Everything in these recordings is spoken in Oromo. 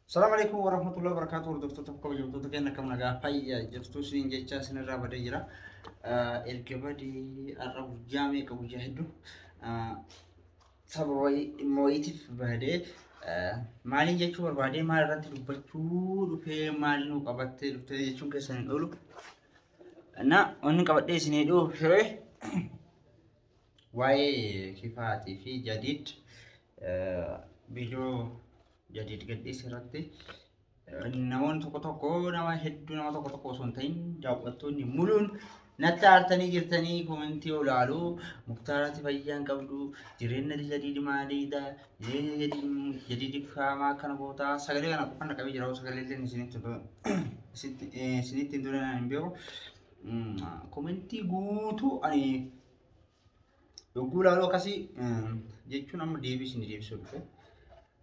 Salaam alaikum wa rahmatullahi wa barakatuh. Hordoftoota fi kabajamtoota keenya akkam nagaa fayyaa jirtu siin jechaa isinirraa badee jira. Erga badee har'a guyyaa meeqa guyyaa hedduu saba wayii dhimma wayiitiif badee maaliin jechuu barbaadee maal irratti dubbachuu dhufee maal nu qabattee dhuftee jechuun keessan hin oolu. Na wanni qabadhee isin hedhuu dhufee Waa'ee kifaatii fi jadiid viidiyoo jadiid gadhiise irratti namoonni tokko tokko nama hedduu nama tokko tokko osoo hin ta'in daawwattoonni muluun natti aartanii jirtanii koomentii olaaluu muktaarati fayyaan qabdu jireenya jadiidi maaliidha jireenya jadiidi faamaa akkana gootaa sagalee kana qofan dhaqabee jira sagalee illee isinitti hin duranaan hin beeku koomentii guutuu ani Yogguu ilaaluu akkasii jechuun amma deebii isin deebisuu dhufe.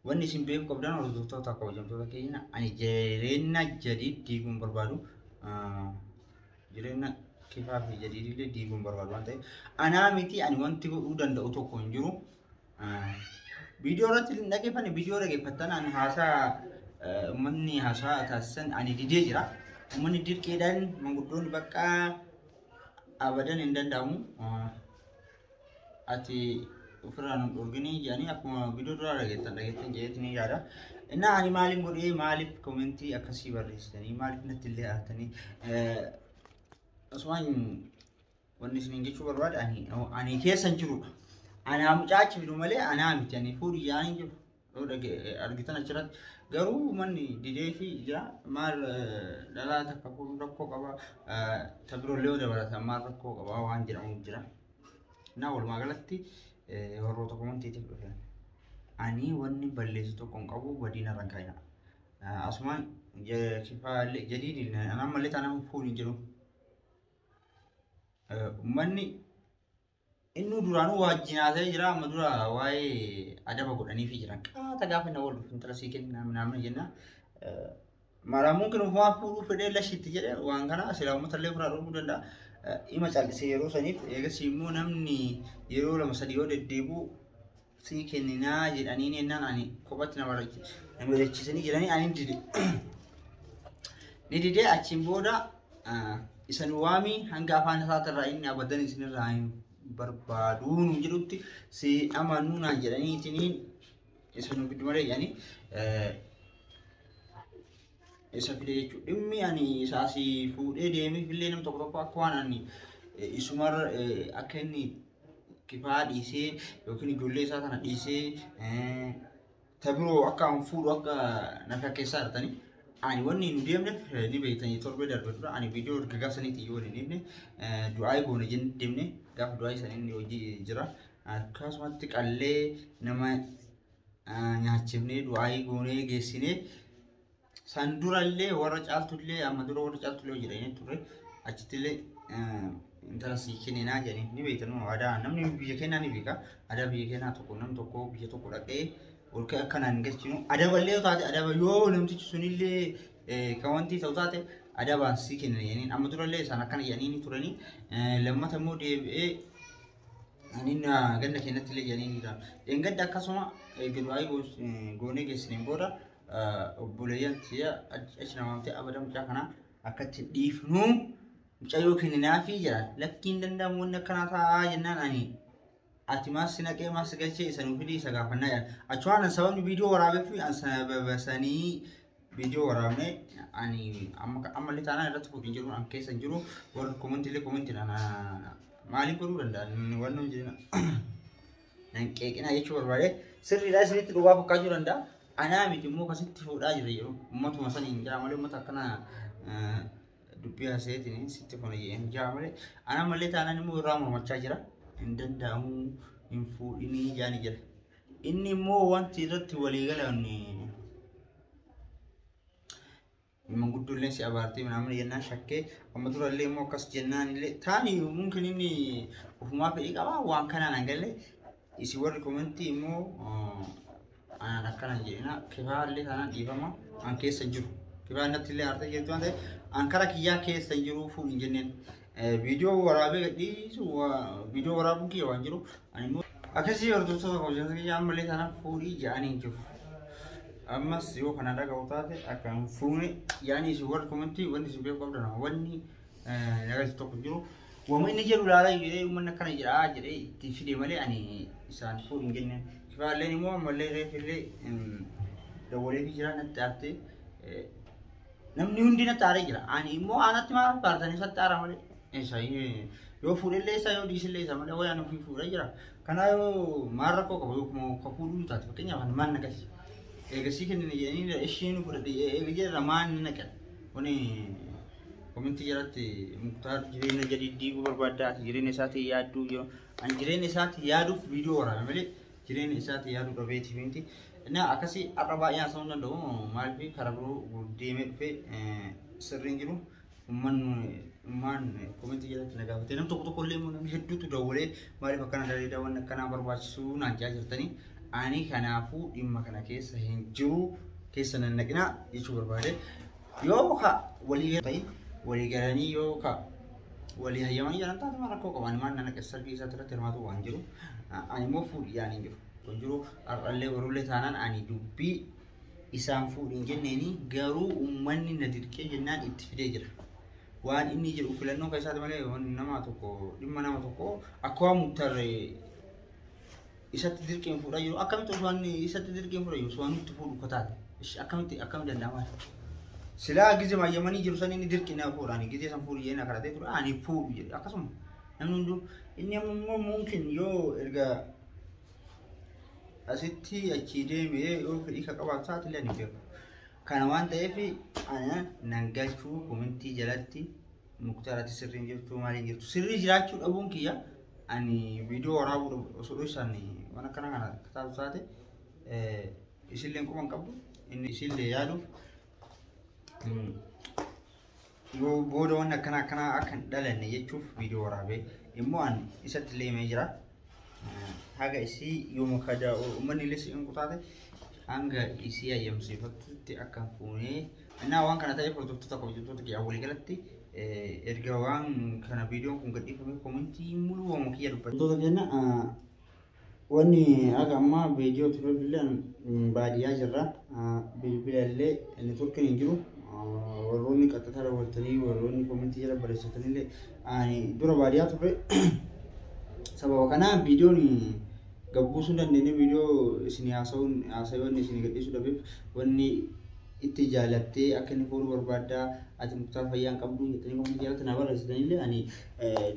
Wanni isin beeku qabdan hordoftoota akka hojjamtoota keenya ani jireenya jadiid diiguun barbaadu jireenya kifaa fi jadiidillee diiguun barbaadu waan ta'eef anaa miti ani wanti godhuu danda'u tokko hin jiru. Viidiyoo irratti hin dhaggeeffanne viidiyoo dhaggeeffattan ani haasaa uummanni haasaa taasisan ani didee jira. Uummanni dirqeedhaan manguddoonni baqqaa abadan hin danda'amu ati ofirraa nu dhorginii jedhanii akkuma bidoo duraa dhageettan dhageettan jedheetu ni yaada. Innaa ani maaliin godhee maaliif koomentii akkasii barreessitanii maaliif natti illee haatanii osoo wanni isin jechuu barbaada ani keessan jirudha. Anaa mucaachi fidu malee anaa miti ani fuudhi yaa'anii jiru. yoo dhage- argitan achirratti garuu manni dideefi jira maal eh, dhalaa takka kun rakkoo qaba eh, ta birollee yoo dabalatan maal rakkoo qaba waan jedhamu jira naa walumaa galatti eh, warroota komantiitiif dhufe ani wanni balleessu tokko hin qabu badiina irra hin kaa'ina Eh, asumaan je- kifaalee jadiidin anammallee taanaan fuun hin jiru Eh, ummanni Innuu duraanuu waajjin haasa'ee jira amma dura waa'ee adaba godhaniifi jiran qaata gaafa na wal intala sii kenna naamna jenna maraamuun kennu waan fuudhuu fedhee lashitti jedhe waan kana silaa uummata illee ofirraa dhorkuu danda'a ima callisee yeroo saniif eegas immoo namni yeroo lama sadii yoo deddeebi'u sii kenninaa jedhaniin jennaan ani kophatti na mari'achiisanii jedhanii ani dide. Ni didee achiin booda isan waamii hanga afaan isaatirraa inni abadan isinirraa hin barbaaduu nu jedhutti si amanuu naan jedhanii itiniin isin giddu malee jedhanii isa fide jechuudha. Dhimmi ani isaa si fuudhee deemeef illee nam tokko tokko akka waan ani isumarra akka inni kifaa dhiisee yookiin ijoollee isaa kana dhiisee eh, ta biroo akka an fuudhu akka na fakkeessaa jirtanii ani wanni nu deemneef eh, ni beektanii torbee darbe dura ani viidiyoo erga gaafa saniitti iyyuu waliin deemne eh, du'aayii goone jennee deemne gaafa du'aayii sana inni hojii jira akkasumatti qallee nama eh, nyaachifnee du'aayii goonee geessinee San durallee warra caaltullee amma dura warra caaltullee jedhanii ture achittillee intala sii kenninaa jedhanii ni beektanuu aadaa namni biyya keenyaa ni beeka aadaa biyya keenyaa tokko nam tokko biyya tokko dhaqee ol ka'e akka naan galchinu adaballee yoo taate adaba yoo namtichi sunillee kan wanti ta'u taate adabaan sii kennina jedhanii amma durallee isaan akkana jedhanii ni turanii lammata immoo deebi'ee Anin ganda keenyatti illee jedhanii ni ta'a. Dheengadda akkasuma eegduu ayii goonee geessaniin booda obboleeyyan tiya achi na waamtee abada mucaa kana akkatti dhiifnu mucayyoo kenninaafi jedha lakkiin danda'amu wanni akkanaa taa'aa jennaan ani ati maas si naqee maas si galchee isa nu fidii isa gaafannaa jedha achumaan an sababni viidiyoo waraabeef an sababasanii viidiyoo waraabne ani amma ammallee taanaan irratti fuudhin jiru an keessa hin jiru warri komantiillee komantiidhaan maaliin godhuu danda'an wanni hojii Nan qeeqinaa jechuu barbaade sirriidhaa isinitti dhugaa fakkaachuu danda'a. Anaa miti immoo kasitti fuudhaa jira yeroo ummatuma saniin jaa malee ummata akkana dubbii haasa'eetiin sitti kun hin jaa malee anaa malee taanaan immoo irraa mormachaa jira. Hin danda'amu hin fuudhinii jaani jira. Inni immoo wanti irratti walii galan manguddoo illee si abaartee minaamin jennaan shakkee amma dura illee immoo akkas jennaan illee taani mumkin inni ofumaa fedhii qabaa waan kanaan an galle isin warri komentii immoo anaan akkana jedhina kifaa illee taanaan dhiifama an keessa jiru kifaa natti illee aartee jirtu waan ta'eef an kara kiyyaa keessa jiru fuun hin jenneen Viidiyoo waraabee gadhiisu viidiyoo waraabuun kiyya waan jiru ani immoo akkasii hordoftoota hojjata kiyya ammallee taanaan fuudhii ja'anii hin jiru. Ammas yoo kana dhaga'u taate akka hin fuune yaani isin warri komentii wanni isin beeku qabdan wanni nagaa tokko jiru. Wama inni jedhu laalaa jedhee uummanni akkana jedhaa jedhee itti fide malee ani isaan fuudhu hin jenne. Kifaalleen immoo ammallee reefillee dawwalee fi jiraa natti aattee Namni hundi natti aaree jira. Ani immoo aanatti maal faartan isatti aara malee. Isa yoo fuudhellee isa yoo dhiisillee isa malee wayaan ofii fuudhee jira. Kanaa yoo maal rakkoo qaba yoo kuma akka fuudhuu taate fakkeenyaaf ani maal naqasi. Eegasii kennina jedhanii ishii nu fudhate eega jedhara maal ni naqan. Kuni kominti jalatti muktaar jireenya jadiddii barbaaddaa jireenya isaatii yaadduu jiru. An jireenya isaatii yaaduuf viidiyoo waraana malee jireenya isaatti yaaduu dhabeeti miti. Inni akkasii har'a baay'ee haasa'uu hin danda'u. Maaliif karaa biroo deemee dhufee sirriin jiru. Ummaan komentii jalatti na gaafatee nam tokko tokko illee immoo namni hedduutu dawwalee maaliif akkana daleedaa waan akkanaa barbaachisu naan jaa jirtanii. Ani kanaafuu dhimma kana keessa hin jiru keessa nan naqinaa jechuu barbaade. Yoo ka walii ta'e walii galanii yoo ka walii hayyamanii jiran taate waan rakkoo qabu ani maal nan akka sargii isaatti irratti hirmaatu waan jiru ani immoo fuudhi yaani hin jiru kun jiru har'allee warullee taanaan ani dubbii isaan fuudhi hin jenneeni garuu uummanni na dirqee jennaan itti fidee jira waan inni jedhu filannoo keessaati malee waan nama tokko dhimma nama tokko akka waan muktarree isatti dirqiin fuudha jiru akkamitti osoo isatti dirqiin fuudha jiru osoo nutti fuudhu kotaate ishi akkamitti akkamitti danda'ama silaa gizee mayyamanii jiru san inni dirqiin na fuudhaani gizee san fuudhu jedhee na kadhatee ture ani fuudhu jedhe akkasuma namni hunduu inni ammoo mumkin yoo erga asitti achii deemee yoo fedhii ka qabaatu taate illee ni beeku kana waan ta'eef ana nan galchuu komintii jalatti Muktaar ati sirrii hin jirtu maal hin jirtu sirrii jiraachuu dhabuun kiyya ani viidiyoo waraabuu dhabu osoo dhoysaan waan akkana kana kitaaba taate eh, isilleen quban qabdu inni isillee yaaduuf mm, yoo booda waan akkana akkanaa akka hin dhalanne jechuuf viidiyoo waraabee immoo ani isatti illee himee jira haga isii yooma kaja ummanni illee si inqutaate hanga isii ayyamsiifattutti akka hin fuunee innaa waan kana ta'eef hordoftoota kabajamtoota kiyyaa walii galatti erga waan kana viidiyoon kun gadhiifamee komentii muluu waamuu kiyya dubbatu. Wantoota keenya wanni haga ammaa viidiyoo ture billeen baadiyyaa jirra bilbila illee inni turkin hin jiru warroonni qaxxataa daawwattanii warroonni komentii jala barreessatanii illee ani dura baadiyyaa turre sababa kanaa viidiyoon gabbuusuu hin dandeenye viidiyoo isin haasa'uun haasa'oonni isin gadhiisuu dhabeef wanni itti jaalattee akka inni fuudhu barbaaddaa ati muktaar fayyaa hin qabdu jettanii wanni jaalatti naa barreessitanillee ani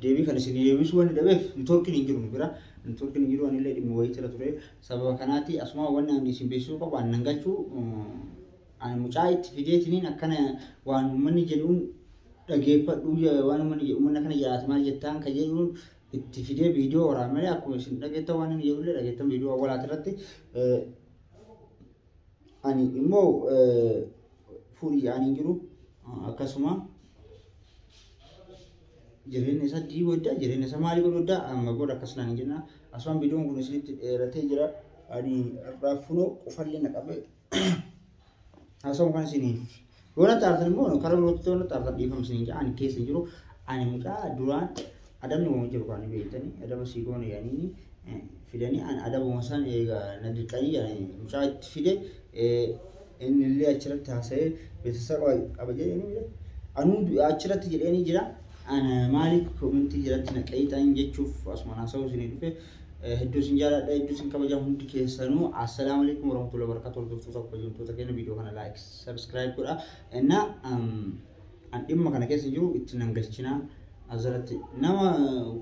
deebii kan isin deebisuu wanni dhabeef nitoorkiin hin jiru nu bira nitoorkiin hin jiru anillee dhimma wayii jira ture sababa kanaati asuma wanni ani isin beeksisuu qabu ani nan galchuu Ani mucaa itti fideetiniin akkana waan uummanni jedhuun dhageeffadhuu je- waan uummanni jedhu uummanni akkana jedhaati maal jettaan kan jedhuun itti fidee viidiyoo waraana malee akkuma isin dhageettan waan inni jedhullee dhageettan viidiyoo awwalaati irratti eh, ani immoo eh, fuudhii ani hin jiru akkasuma jireenya isaa dii godda jireenya isaa maalii godhu godda amma booda akkas naan hin jenna asumaan viidiyoon kun isinitti dheeratee jira ani irraa funoo qufallee na qabee Haasawaan kan isin yoo na taartan immoo karaa birootti yoo na taartan dhiifama isin jedha ani keessa hin jiru ani mucaa duraan adabni waan jiru kan beektanii adaba sii goone yaanii fidanii ani adabuma san eegaa na dirqanii yaanii mucaa itti fide inni illee achirratti haasa'ee beeksisa qaba qaba jedhanii anuu achirratti jedhanii jira. Ana maaliif komintii jiratti na qayyixan jechuuf asuma haasa'uu isinii dhufe Hedduu isin jaaladha, hedduu isin kabaja hundi keessanuu. Assalaamu alaikum warahmatullahi wabarakatuh. Hordoftoota kabajamtoota keenya viidiyoo kana like, subscribe godha. Inna an dhimma kana keessa jiru itti nan galchina. Azaratti nama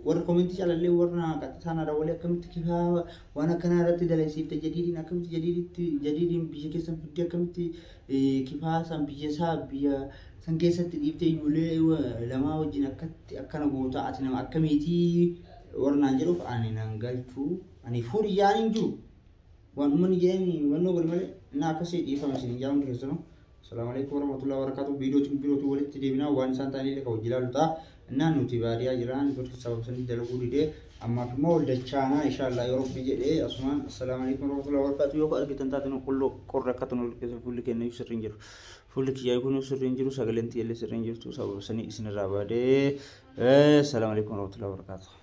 warra komentii calallee warra qaxxataan haadha walii akkamitti kifaa waan akkanaa irratti dalagsiifte jadiidiin akkamitti jadiidiitti jadiidiin biyya keessan fiddee akkamitti kifaa san biyya isaa biyya san keessatti dhiiftee ijoollee lamaa wajjin akkatti akkana goota ati nama akkamiitii Warri naan jedhuuf ani nan galchu. Ani furiyyaan hin jiru. Waan ummanni jedheen hubannoo godhe malee na akkasii dhiifama isin hin jaa hundi keessanuu. Salaamu alaikum warahmatullahi wabarakatuh. Viidiyootiin birootu walitti deebinaa waan isaan ta'anii illee kan hojii ilaalu ta'a. Innaan nuti baadiyaa jiraan network sababa sanii dalaguu didee ammaaf immoo wal dachaanaa inshaallah yoo rabbi jedhee asumaan assalaamu alaikum warahmatullahi wabarakatuh yoo argitan taate nu qulloo qorra akka tun wal keessa fuulli kenna iyyuu sirri hin jiru. Fuulli kiyyaa kun sirri hin jiru sagaleen tiyya illee sirri hin jirtu sababa sanii isinirraa baadee. Salaamu alaikum warahmatullahi wabarakatuh.